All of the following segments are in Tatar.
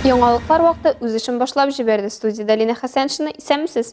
Яңалыклар вакыты үз эшен башлап җибәрде, студиядә Лина Хәсәншина. Исәнмесез!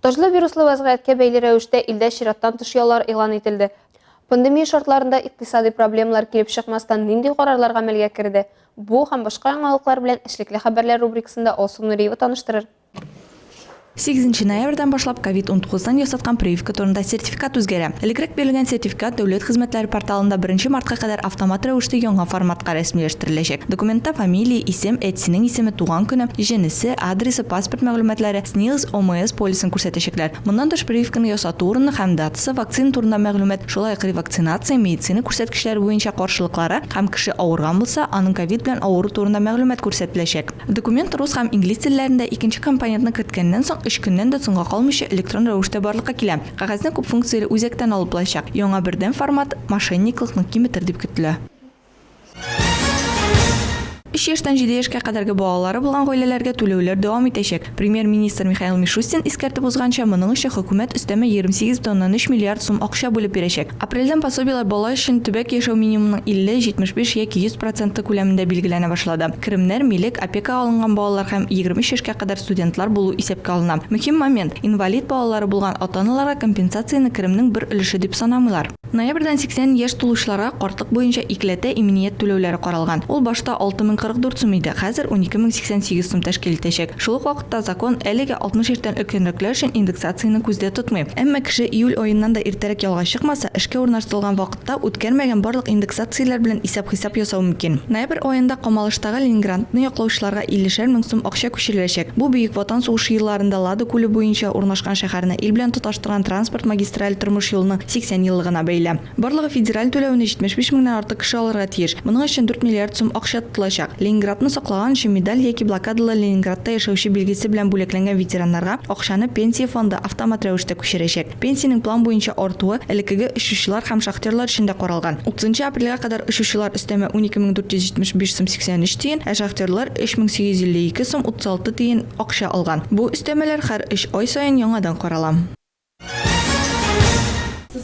Таҗлы вируслы вәзгыятькә бәйле рәвештә илдә чираттан тыш яллар игълан ителде. Пандемия шартларында икътисадый проблемалар килеп чыкмастан нинди карарлар гамәлгә керде? Бу һәм башка яңалыклар белән эшлекле хәбәрләр рубрикасында Алсу Нуриева таныштырыр. Сигезенче ноябрьдән башлап ковид унтугыздан ясаткан прививка турында сертификат үзгәрә. Элекрәк бирелгән сертификат Дәүләт хезмәтләре порталында беренче мартка кадәр автомат рәвештә яңа форматка рәсмиләштерелгән. тереләчәк. Документта фамилия, исем, әтисенең исеме, туган көне, җенесе, адресы, паспорт мәгълүматлары, СНИЛС, ОМС полисын күрсәтәчәкләр. Моннан тыш прививканы ясату урыны һәм датасы, вакцина турында мәгълүмат, шулай ук ревакцинация, медицина күрсәткечләре буенча каршылыклары һәм кеше авырган булса, аның ковид белән авыру турында мәгълүмат күрсәтеләчәк. Документ рус һәм инглиз телләрендә, икенче компонентны керткәннән соң, өч көннән дә соңга калмыйча электрон рәвештә барлыкка килә. Кәгазьне күпфункцияле үзәктән алып булачак. Яңа бердәм формат мошенниклыкны киметер дип көтелә. Өч яшьтән җиде яшькә кадәрге балалары булган гаиләләргә түләүләр дәвам итәчәк. Премьер-министр Михаил Мишустин искәртеп узганча, моның өчен хөкүмәт өстәмә 28 бөтеноннан өч миллиард сум акча бүлеп бирәчәк. Апрельдән пособиеләр бала өчен төбәк яшәү минимумының 50, 75 яки 100 проценты күләмендә билгеләнә башлады. Керемнәр, милек, опекага алынган балалар һәм 23 яшькә кадәр студентлар булу исәпкә алына. Мөһим момент, инвалид балалары булган ата-аналарга компенсацияне керемнең бер өлеше дип санамыйлар. Ноябрьдән 80 яшь тулучыларга картлык буенча икеләтә иминият түләүләре каралган. Ул башта 6044 сум иде, хәзер 12088 сум тәшкил итәчәк. Шул ук вакытта закон әлегә 60 яшьтән өлкәнрәкләр өчен индексацияне күздә тотмый. Әмма кеше июль аеннан да иртәрәк ялга чыкмаса, эшкә урнаштырылган вакытта үткәрмәгән барлык индексацияләр белән исәп-хисап ясау мөмкин. Ноябрь аенда Камалыштагы Ленингрантны яклаучыларга 50 шәр мең сум акча күчереләчәк. Бу Бөек Ватан сугышы елларында Лада күле буенча урнашкан шәһәрне ил белән тоташтырган Торган транспорт магистраль тормыш юлының 80 еллыгына бәйле. Барлыгы федераль түләвенә 75 меңнән артык кеше алырга тиеш. Моның өчен 4 миллиард сум акча тотылачак. Ленинградны саклаган өчен медаль яки блокадалы Ленинградта яшәүче билгесе белән бүләкләнгән ветераннарга акчаны Пенсия фонды автомат рәвештә күчерәчәк. Пенсиянең план буенча артуы элеккеге очучылар һәм шахтерлар өчен дә каралган. 30 апрельгә кадәр очучылар өстәмә 12 мең 475 сум 83 тиен, ә шахтерлар, 3 мең 852 сум 36 тиен, акча алган. Бу өстәмәләр хәр өч ай саен яңадан карала.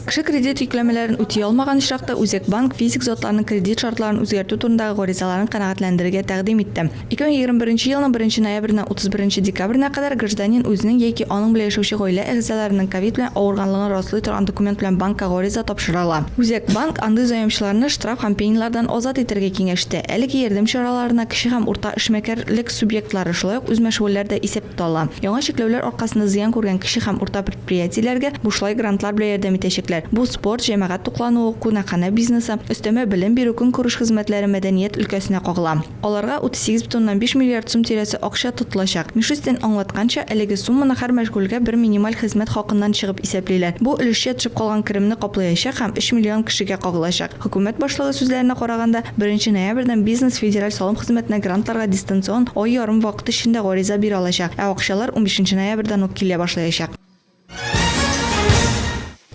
Кеше кредит йөкләмәләрен үти алмаган очракта, Үзәк банк физик затларның кредит шартларын үзгәртү турындагы гаризаларын канәгатьләндерергә тәкъдим итте. 2021 елның 1 ноябреннән 31 декабренә кадәр гражданин үзенең яки аның белән яшәүче гаилә әгъзаларының ковид белән авырганлыгын раслый торган документ белән банкка гариза тапшыра ала. Үзәк банк андый заемчыларны штраф һәм пенилардан азат итәргә киңәш итә. Әлеге ярдәм чараларына кече һәм урта эшмәкәрлек субъектлары, шулай ук үзмәшгульләр дә исәптә ала. Яңа чикләүләр аркасында зыян күргән кече һәм урта предприятиеләргә бушлай грантлар белән ярдәм итәчәкләр. Бу спорт, җәмәгать туклануы, кунакханә бизнесы, өстәмә белем бирү, көнкүреш хезмәтләре, мәдәният өлкәсенә кагыла. Аларга 38,5 миллиард сум тирәсе акча тотылачак. Мишустин аңлатканча, әлеге сумманы һәр мәшгульгә бер минималь хезмәт хакыннан чыгып исәплиләр. Бу, өлешчә төшеп калган керемне каплыячак һәм 3 миллион кешегә кагылачак. Хөкүмәт башлыгы сүзләренә караганда, беренче ноябрьдән бизнес федераль салым хезмәтенә грантларга дистанцион, ай ярым вакыт эчендә гариза бирә алачак, ә акчалар унбишенче ноябрьдән үк килә башлаячак.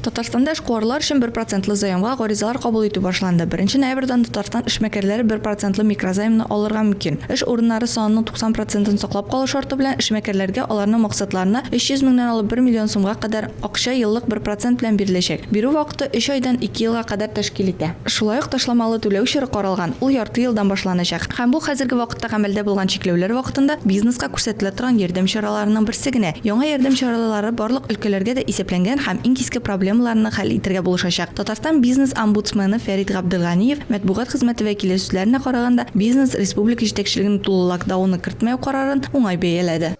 Татарстанда эшкуарлар өчен бер процентлы заемга гаризалар кабул итү башланды. Беренче ноябрьдән Татарстан эшмәкәрләре бер процентлы микрозаймны алырга мөмкин. Эш урыннары санының 90 процентын саклап калу шарты белән эшмәкәрләргә аларның максатларына 300 меңнән алып бер миллион сумга кадәр Акча еллык бер процент белән биреләчәк. Бирү вакыты өч айдан ике елга кадәр тәшкил итә. Шулай ук ташламалы түләү чоры каралган, ул ярты елдан башланачак. Һәм бу хәзерге вакытта гамәлдә булган чикләүләр вакытында бизнеска күрсәтелә торган ярдәм чараларының берсе генә. Яңа ярдәм чаралары барлык өлкәләргә дә исәпләнгән һәм иң киске проблемаларны хәл итәргә булышачак. Татарстан бизнес-омбудсмены Фәрит Габделганиев матбугат хезмәте вәкиле сүзләренә караганда, бизнес республика җитәкчелегенең тулы лакдауны кертмәү карарын уңай бәяләде.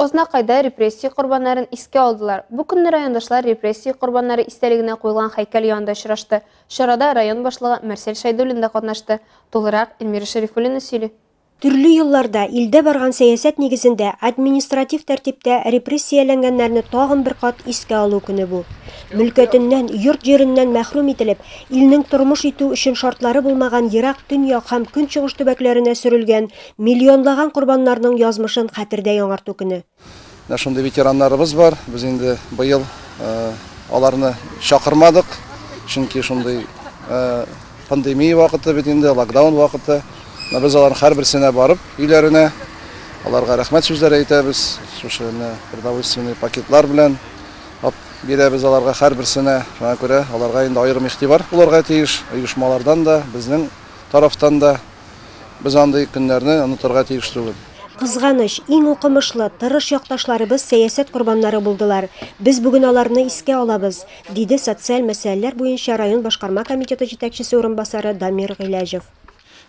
Ознакайда репрессия корбаннарын искә алдылар. Бу көнне райондашлар репрессия корбаннары истәлегенә куелган хәйкәл янында очрашты. Чарада район башлыгы Марсель Шәйдуллин да катнашты. Тулырак Эльмира Шәрифуллина сөйли. Төрле елларда илдә барган сәясәт нигезендә административ тәртиптә репрессияләнгәннәрне тагын бер кат искә алу көне бу. Мөлкәтеннән, йорт-җиреннән мәхрүм ителеп, илнең тормыш итү өчен шартлары булмаган ерак төньяк һәм көнчыгыш төбәкләренә сөрелгән Миллионлаган корбаннарның язмышын хәтердә яңарту көне. Менә шундый ветераннарыбыз бар. Без инде быел аларны чакырмадык, чөнки шундый пандемия вакыты бит инде, локдаун вакыты. Менә без аларның һәрберсенә барып, өйләренә аларга рәхмәт сүзләре әйтәбез. Шушы менә продовольственный пакетлар белән бирәбез аларга һәрберсенә. Шуңа күрә аларга инде аерым игътибар булырга тиеш оешмалардан да, безнең тарафтан да. Без андый көннәрне онытырга тиеш түгел. Кызганыч, иң укымышлы, тырыш якташларыбыз сәясәт корбаннары булдылар. Без бүген аларны искә алабыз, диде социаль мәсьәләләр буенча район башкарма комитеты җитәкчесе урынбасары Дамир Гыйләҗев.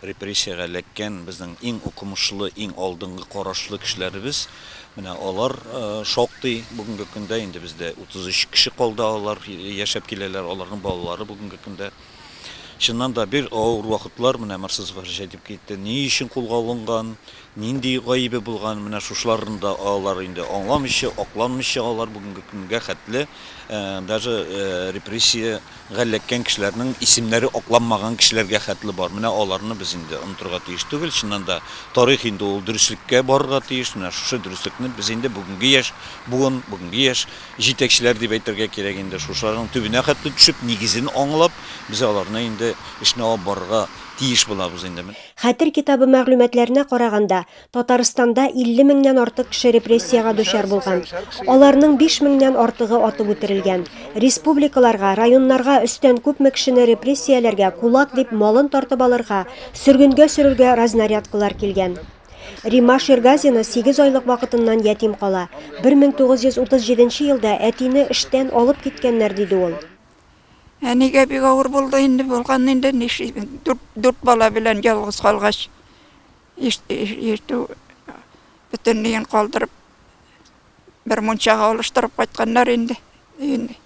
Репрессиягә эләккән безнең иң укымышлы, иң алдынгы карашлы кешеләребез, менә алар шактый. Бүгенге көндә инде бездә 33 кеше калды, алар яшәп киләләр, аларның балалары бүгенге көндә. Чыннан да, бик авыр вакытлар менә Марсызовка җитеп китте. Ни өчен кулга алынган, нинди гаебе булган, менә шушыларны да алар инде аңламыйча, акланмыйча алар бүгенге көнгә хәтле даже репрессиягә эләккән кешеләрнең исемнәре акланмаган кешеләргә хәтле бар. Менә аларны без инде онытырга тиеш түгел. Чыннан да, тарих инде ул дөреслеккә барырга тиеш. Менә шушы дөреслекне без инде бүгенге яшь буын, бүгенге яшь Җитәкчеләр дип әйтергә кирәк инде, шушыларның төбенә хәтле төшеп, нигезен аңлап, без аларны инде эшне алып барырга тиеш булабыз инде. Хәтер китабы мәгълүматларына караганда, Татарстанда 50 меңнән артык кеше репрессиягә дучар булган. Аларның 5 меңнән артыгы атып үтерелгән. Республикаларга, районнарга өстән күпме кешене репрессияләргә, кулак дип, малын тартып алырга, сөргенгә сөрергә разнарядкалар килгән. Римма Шергазина 8 айлык вакытыннан ятим кала. 1937 елда әтине эштән алып киткәннәр, диде ул. Әнигә бик авыр булды инде, булган инде, нишлибез, дүрт, дүрт бала белән ялгыз калгач, иш- иш- ишетү бөтенләен калдырып, бер мунчага алыштырып кайтканнар инде өйне.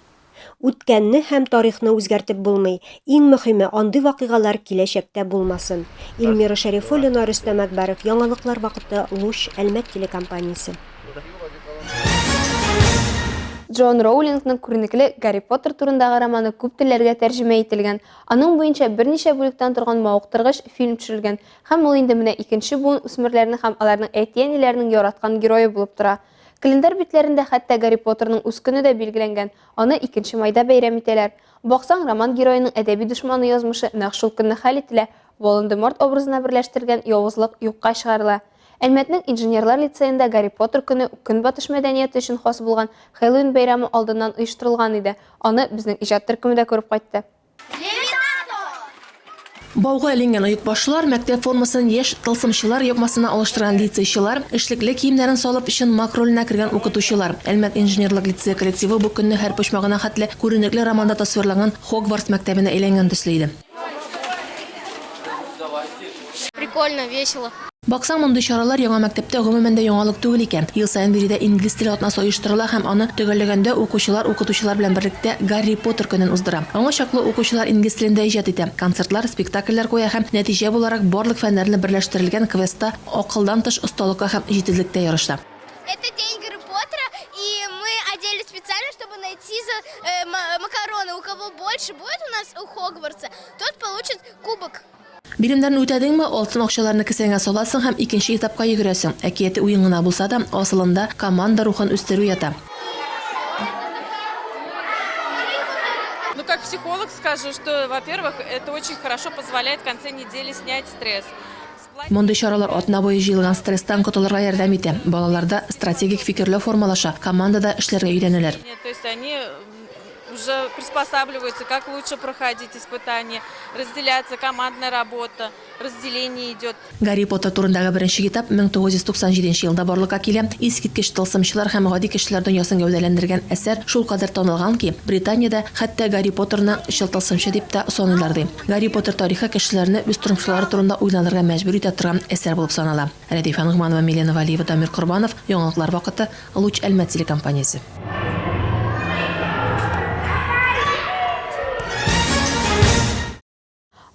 Үткәнне һәм тарихны үзгәртеп булмый, иң мөхиме, андый вакыйгалар киләчәктә булмасын. Ильмира Шәрифуллина, Рөстәм Әкбәров, яңалыклар вакыты, Луч, Әлмәт телекомпаниясе. Джоан Роулингның күренекле Гарри Поттер турындагы романы күп телләргә тәрҗемә ителгән. Аның буенча берничә бүлектән торган мавыктыргыч фильм төшерелгән һәм ул инде менә икенче буын үсмерләрнең һәм аларның әти-әниләренең яраткан герое булып тора. Календарь битләрендә хәтта Гарри Поттерның үз көне дә билгеләнгән, аны икенче майда бәйрәм итәләр. Баксаң, роман героеның әдәби дошманы язмышы нәкъ шул көнне хәл ителә, Волан-де-Морт образына берләштерелгән явызлык юкка чыгарыла. Әлмәтнең инженерлар лицеенда Гарри Поттер көне Көнбатыш мәдәнияте өчен хас булган Хэллоуин бәйрәме алдыннан оештырылган иде, аны безнең иҗат төркеме дә күреп кайтты. Бауга эленгән оекбашлылар, мәктәп формасын яшь тылсымчылар ябмасына алыштырган лицейчылар, эшлекле киемнәрен салып, чын маг роленә кергән укытучылар. Әлмәт инженерлык лицее коллективы бу көнне һәр почмагына хәтле күренекле романда тасвирланган Хогвартс мәктәбенә әйләнгән төсле иде. Прикольно, весело. Баксаң, мондый чаралар яңа мәктәптә гомумән дә яңалык түгел икән. Ел саен биредә инглиз теле атнасы оештырыла һәм аны төгәлләгәндә укучылар укытучылар белән берлектә Гарри Поттер көнен уздыра. Аңа чаклы укучылар инглиз телендә иҗат итә, концертлар, спектакльләр куя һәм нәтиҗә буларак барлык фәннәрне берләштерелгән квестта акылдан тыш осталыкка һәм җитезлектә ярыша. Это день Гарри Поттера и мы оделись специально чтобы найти за макароны у кого больше будет у нас у Хогвартса тот получит кубок. Биремнәрне үтәдеңме, алтын акчаларны кесәңә саласың һәм икенче этапка йөгерәсең. Әкияти уен гына булса да, асылында команда рухын үстерү ята. Ну как психолог скажу, что во-первых, это очень хорошо позволяет в конце недели снять стресс. Мондый чаралар атна буе җыелган стресстан котылырга ярдәм итә, балаларда стратегик фикерләү формалаша, командада эшләргә өйрәнәләр. То есть они Уже приспосабливаются, как лучше проходить испытание, разделяться, командная работа, разделение идет. Гарри Поттер турындагы беренче китап 1997 елда барлыкка килә. Искиткеч тылсымчылар һәм гади кешеләр дөньясын гәүдәләндергән әсәр шулкадәр танылган ки, Британиядә хәтта Гарри Поттерны чын тылсымчы дип тә саныйлар, ди. Гарри Поттер тарихы кешеләрне үз тормышлары турында уйланырга мәҗбүр итә торган әсәр булып санала. Рәдифә Ногманова, Милена Вәлиева, Дамир Корбанов, яңалыклар вакыты, Луч Әлмәт телекомпаниясе.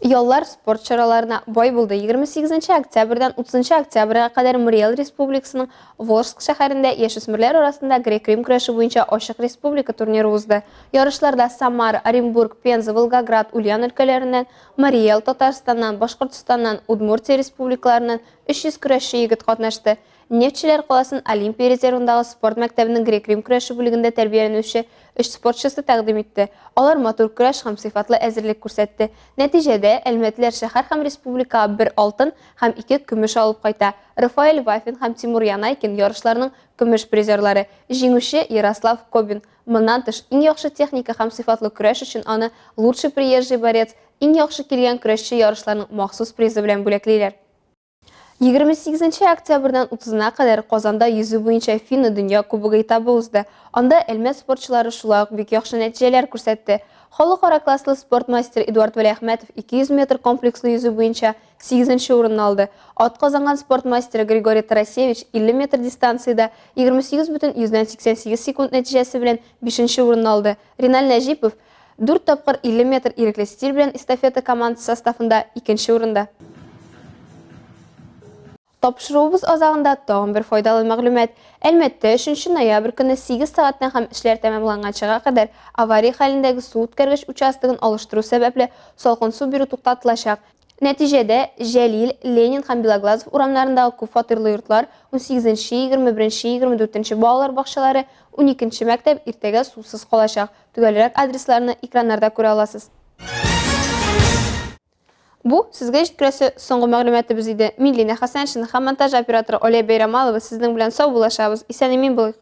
Яллар спорт чараларына бай булды. 28 нче октябрьдән 30 нчы октябрьгә кадәр Муриел Республикасының Волжск шәһәрендә яшүсмерләр арасында грек-рим көрәше буенча ачык республика турниры узды. Ярышларда Самара, Оренбург, Пенза, Волгоград, Ульян өлкәләреннән, Мари Эл, Татарстаннан, Башкортстаннан, Удмуртия республикаларыннан 300 көрәшче егет катнашты. Нефтьчеләр каласын Олимпия резервындагы спорт мәктәбенең грек-рим көрәше бүлегендә тәрбияләнүче өч спортчысы тәкъдим итте. Алар матур көрәш һәм сыйфатлы әзерлек күрсәтте. Нәтиҗәдә, әлмәтлеләр шәһәр һәм республикага бер алтын һәм ике көмеш алып кайта. Рафаэль Вафин һәм Тимур Янайкин, ярышларның көмеш призерлары. Җиңүче, Ярослав Кобин. Моннан тыш, иң яхшы техника һәм сыйфатлы көрәш өчен аны Лучший приезжий борец, Иң яхшы килгән көрәшче ярышларның махсус призы белән бүләклиләр. 28 октябрьдән 30-на кадәр Казанда йөзү буенча Финны дөнья кубогы этабы узды. Анда Әлмәт спортчылары шулай ук бик яхшы нәтиҗәләр күрсәтте. Халыкара класслы спорт мастеры Эдуард Вәлиәхмәтов 200 метр комплекслы йөзү буенча 8 урынны алды. Ат казанган спорт мастеры Григорий Тарасевич 50 метр дистанциядә 28,88 секунд нәтиҗәсе белән 5 урынны алды. Риналь Нәҗипов Дүрт тапкыр 50 метр ирекле стиль белән эстафета командасы составында икенче урында. Тапшыруыбыз азагында тагын бер файдалы мәгълүмат. Әлмәттә 3 ноябрь көне 8 сәгатьтән һәм эшләр тәмамланганчага кадәр авария хәлендәге су үткәргеч участогын алыштыру сәбәпле салкын су бирү туктатылачак. Нәтиҗәдә, Җәлил, Ленин һәм Белоглазов урамнарындагы күп фатирлы йортлар, 18 нче, 21 нче, 24 нче балалар бакчалары, 12 нче мәктәп иртәгә сусыз калачак. Төгәлрәк адресларны экраннарда күрә аласыз. Бу, сезгә җиткерәсе соңгы мәгълүматыбыз иде. Мин Линә Хәсәншина һәм монтаж операторы Оля Бәйрәмалова сезнең белән сау булашабыз, исән-имин булыйк!